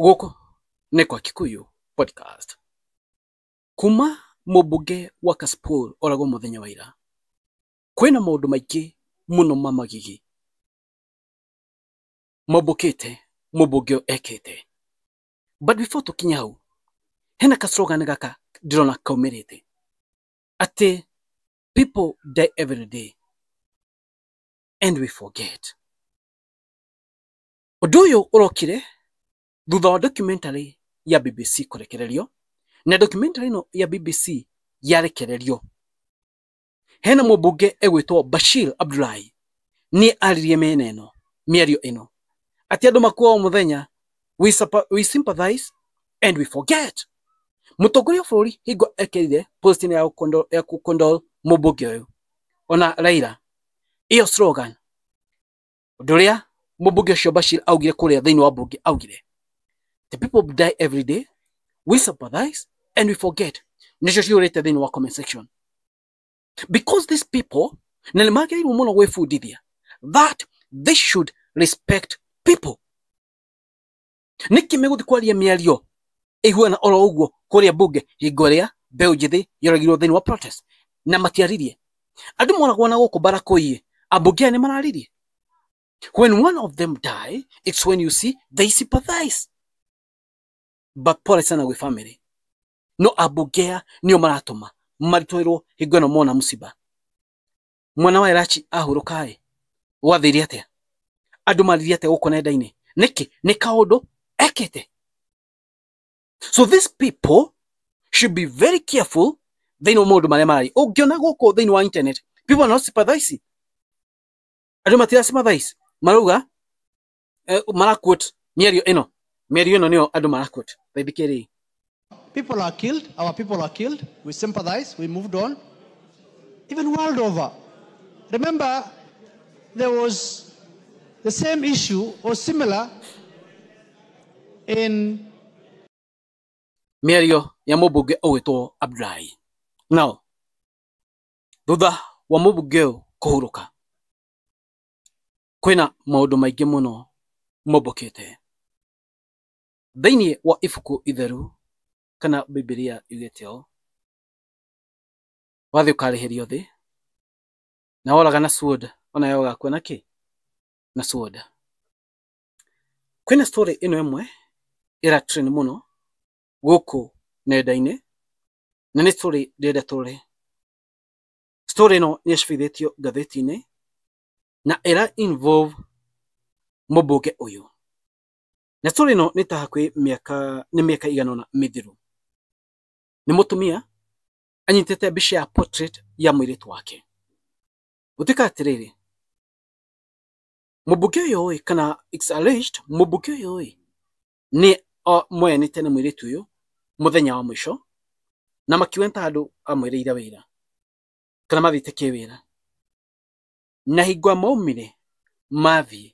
Gũkũ nĩ kwa Kikuyu Podcast. Kuma mũmbunge wa Kasipul oragwo mũthenya wa ira, kwĩna maũndũ maingĩ mũno ma magigi mombũkĩte mũmbunge ũyũ ekĩte. But before tũkinye hau, hena ka slogan gaka ndĩrona kaumĩrĩte atĩ people die every day and we forget. Ũndũ ũyũ ũrokire thutha wa documentary ya BBC kũrekererio, na documentary ĩno ya BBC yarekererio, hena mũmbunge egwĩtwo Bashir Abdullahi nĩ aririe mĩena ĩno mĩario ĩno atĩ andũ makuaga mũthenya we, we sympathize and we forget. Mũtongoria wa bũrũri hingo ekerire post ya kũkondol ya kũkondol mũmbunge ũyũ ona Raila, ĩyo slogan Ũndũ ũrĩa mũmbunge ũcio Bashir augire kũrĩa thĩinĩ wa mbunge augire, the people die every day, we sympathize and we forget. Nĩcio ciũrĩte thĩinĩ wa comment section. Because these people, na nĩ magĩrĩirwo mũno gwĩbundithia that they should respect people. niki meguthi kwaria miario iguana oro uguo kuria bunge hingo ria mbeu njithi yoragirwo thiini wa protest na matiaririe andu moragwo na guku bara kuiye ambunge aya ni mararirie when one of them die it's when you see they sympathize but pole sana gwi family no ambunge aya nio maratuma maritwirwo hingo ino mona musiba mwana wa Elachi ahurũkaĩ gwathĩire atĩa andũ maririe atĩa gũkũ nenda-inĩ nĩkĩ nĩ kaũndũ ekĩte so these people should be very careful thĩinĩ wa maũndũ marĩa mararia ũngĩona gũkũ thĩinĩ wa internet people are not sympathizing andũ matira sympathize marauga eh, maraquote mĩario ĩno mĩario ĩno nĩyo andũ maraquote thaithikĩrĩi People are killed, our people are killed. We sympathize, we moved on. Even world over. Remember, there was the same issue or similar in mĩario ya mũmbunge ũgwĩtwo Abdullahi nao thutha wa mũmbunge ũyũ kũhurũka kwĩna maũndũ maingĩ mũno mombũkĩte. Thĩinĩ wa ibuku itheru kana Bibilia yugĩte ũũ, wathiĩ ũkarĩhĩrio thĩ, na woraga na sword onawe ũgakua na kĩ? Na sword. Kwĩna story ĩno ĩmwe ĩra trend mũno gũkũ nenda-inĩ, na nĩ story ndĩrenda tũrore. Story ĩno nĩyacabithĩtio ngathĩti-inĩ na ĩra involve mũmbunge ũyũ. Na story ĩno nĩ ta hakuhĩ mĩaka nĩ mĩaka igana ũna mĩthiru. Nĩ mũtumia anyitĩte mbica ya portrait ya mũirĩtu wake. Gũtuĩka atĩrĩrĩ, mũmbunge ũyũ ĩ kana it's alleged mũmbunge ũyũ ĩ nĩ moyanĩte na mũirĩtu ũyũ mũthenya wa mũico na makiuga nĩ ta handũ amwĩrĩire wĩra kana mathiĩte kĩwĩra. Na hingo a maumire mathiĩ,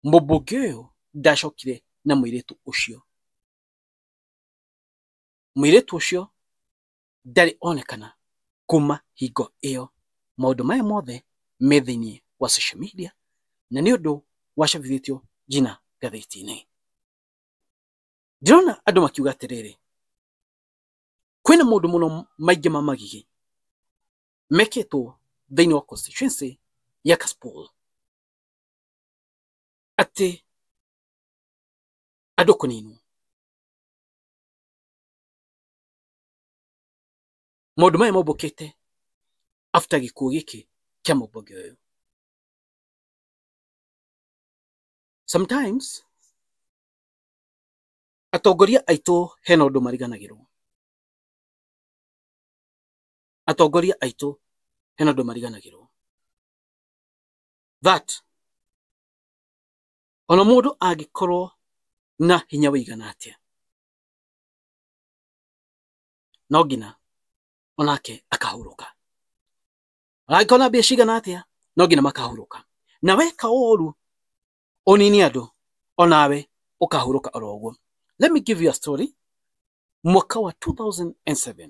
mũmbunge ũyũ ndacokire na mũirĩtu ũcio. Mũirĩtu ũcio ndarĩ onekana kuma hingo ĩyo. Maũndũ maya mothe me thĩiniĩ wa social media, na nĩ ũndũ wacabithĩtio nginya ngathĩti-inĩ. Ndĩrona andũ makiuga atĩrĩrĩ, kwĩna maũndũ mũno maingĩ ma magigi mekĩtwo thĩinĩ wa constituency ya Kasipul atĩ andũ kũninwo. Maũndũ maya mombũkĩte after gĩkuũ gĩkĩ kĩa mũmbunge ũyũ. Sometimes atongoria aitũ hena ũndũ mariganagĩrwo. atongoria aitũ hena andũ mariganagĩrwo that ona mũndũ angĩkorwo na hinya wĩigana atĩa no nginya onake akahurũka angĩkorwo na mbia cigana atĩa no nginya makahurũka na weka ũru ũnini andũ onawe ũkahurũka oro ũguo let me give you a story mwaka wa 2007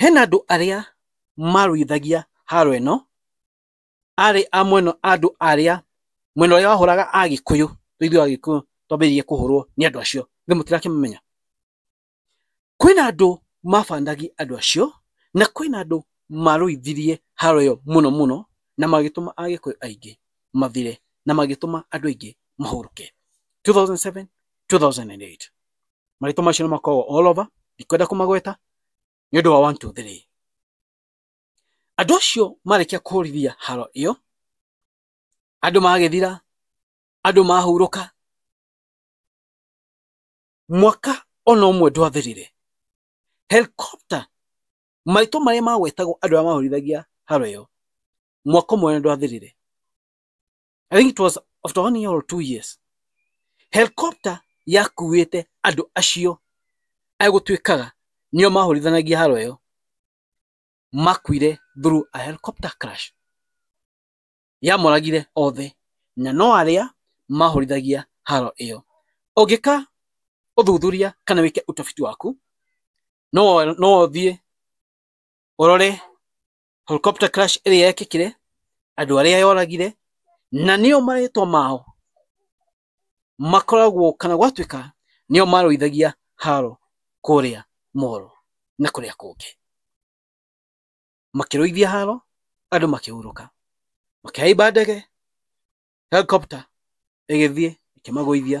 Hena andũ arĩa marũithagia haro ĩno, arĩ a mwena andũ arĩa mwena ũrĩa wahũraga Agĩkũyũ, rĩu ithuĩ Agĩkũyũ twambĩrĩirie kũhũrwo nĩ andũ acio, githĩ mũtirakĩmamenya? Kwĩna andũ mabandagia andũ acio, na kwĩna andũ marũithirie haro ĩyo mũno mũno, na magĩtũma Agĩkũyũ aingĩ mathire, na magĩtũma andũ aingĩ mahurũke, 2007, 2008. marĩtwa macio nĩ makoragwo all over ndikwenda kũmagweta nĩ ũndũ wa one two three andũ acio marĩkia kũhũrithia haro ĩyo andũ magĩthira andũ mahurũka mwaka ona ũmwe ndwathirire helicopter maitũ marĩa magwetagwo andũ arĩa mahorithagia haro ĩyo mwaka ũmwe ndwathirire I think it was after one year or two years helicopter yakuĩte andũ acio agũtuĩkaga nĩo mahũrithanagia haro ĩyo makuire through a helicopter crash yamoragire othe na no arĩa mahũrithagia haro ĩyo ũngĩka ũthuthuria kana wĩke ũtabiti waku no no ũthiĩ ũrore helicopter crash ĩrĩa yekĩkire andũ arĩa yoragire na nĩo marĩtwa mao makoragwo kana gwatuĩka nĩo marũithagia haro kũrĩa moro na kũrĩa kũngĩ makĩrũithia haro andũ makĩhurũka makĩhaimba ndege helicopter ĩgĩthiĩ ĩkĩmagũithia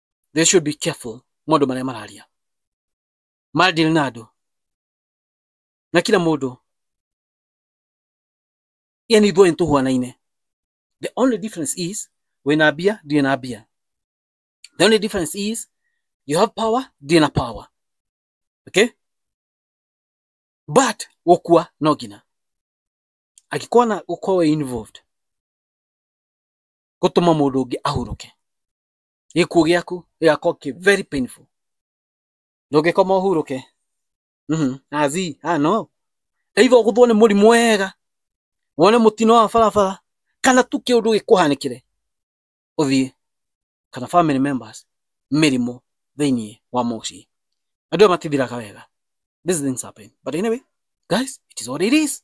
they should be careful maũndũ marĩa mararia madeal na andũ na kila mũndũ yani ithuĩ nĩ tũhuanaine the only difference is wĩna mbia ndirĩ na mbia the only difference is you have power ndirĩ na power okay but gũkua no nginya angĩkorwo na gũkorwo wĩ involved gũtũma mũndũ ũngĩ ahurũke gĩkuũ gĩaku gĩgakorwo kĩ very painful ndũngĩkoma ũhurũke Mhm. azi ah no either ũgũthwo nĩ mũrimũ wega wone mũtino wa barabara kana tu kĩũndũ gĩkũhanĩkĩre ũthiĩ kana family members mĩrimũ thĩinĩ wa mũciĩ andũ aya matithiraga wega these things happen but anyway guys it is what it is